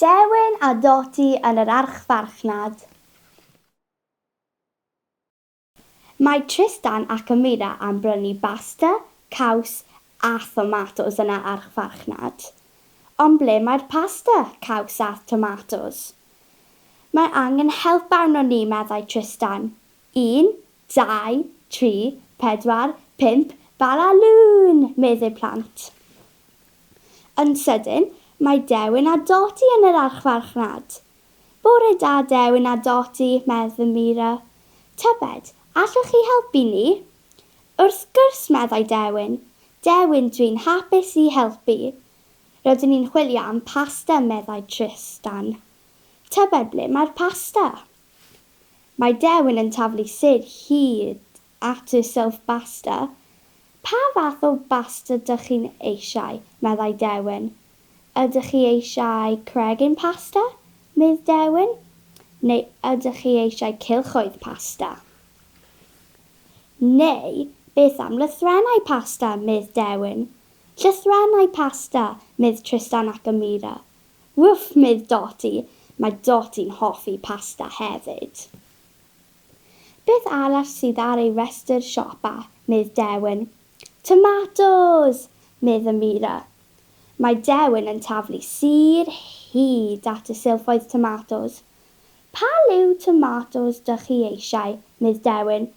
Dewin a Dodi yn yr archfarchnad. Mae Tristan ac Amira am brynu basta, caws, A thomatos yna â'ch farchnad. Ond ble mae'r pasta, caws a'th tomatos? Mae angen help arnon ni, meddai Trystan. Un, dau, tri, pedwar, pump, Bala Lŵn! meddi'r plant. Yn sydyn, mae Dewin a Dodi yn yr archfarchnad. Bore da, Dewin a Dodi, medd fy Mira. Tybed, allwch chi helpu ni? Wrth gwrs, meddai Dewin. Dewin, dwi'n hapus i helpu. Rydyn ni'n chwilio am pasta, meddai Trystan. Tybed ble mae'r pasta? Mae Dewin yn taflu syd hyd at y silff basta. Pa fath o basta dych chi'n eisiau? meddai Dewin. Ydych chi eisiau cregyn pasta? medd Dewin. Neu ydych chi eisiau cylchoedd pasta? Neu beth am lythrennau pasta, medd Dewin. Llythrennau pasta, medd Trystan ac Amira. Wff, medd Doti, mae Doti'n hoffi pasta hefyd. Beth arall sydd ar ei restr siopa, medd Dewin. Tomatos! medd Amira. Mae Dewin yn taflu sur hyd at y silffoedd tomatos. Pa liw tomatos dych chi eisiau, Miss Dewin?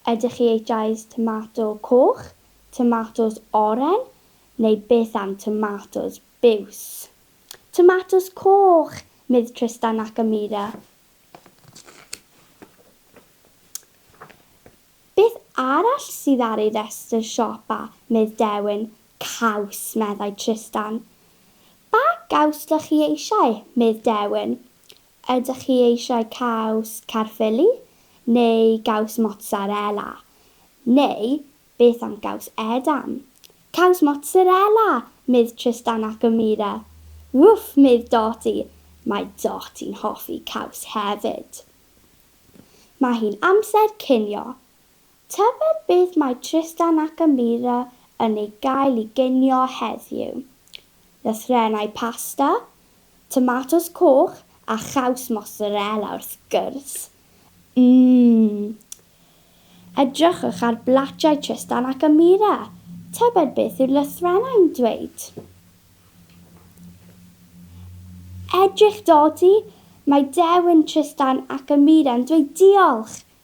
Ydych chi eisiau tomato coch, tomatos oren, neu beth am tomatos biws? Tomatos coch, Miss Trystan Nakamura. Beth arall sydd ar ei restr siopa, Miss Dewin? Caws, meddai Trystan. Pa gaws dych chi eisiau, Miss Dewin? Ydych chi eisiau caws Caerffili neu gaws mozzarella? Neu beth am gaws Edam? Caws mozzarella! medd Trystan ac Amira. Wwff! medd Doti. Mae Doti'n hoffi caws hefyd. Mae hi'n amser cinio. Tybed beth mae Tristan ac Amira yn ei gael i ginio heddiw? Lythrennau pasta, tomatos coch a chaws mozzarella wrth gwrs! Mmm! Edrychwch ar blatiau Tristan ac Amira, tybed beth yw'r lythrennau'n dweud? Edrych dodi! Mae dewin Tristan ac Amira'n dweud diolch!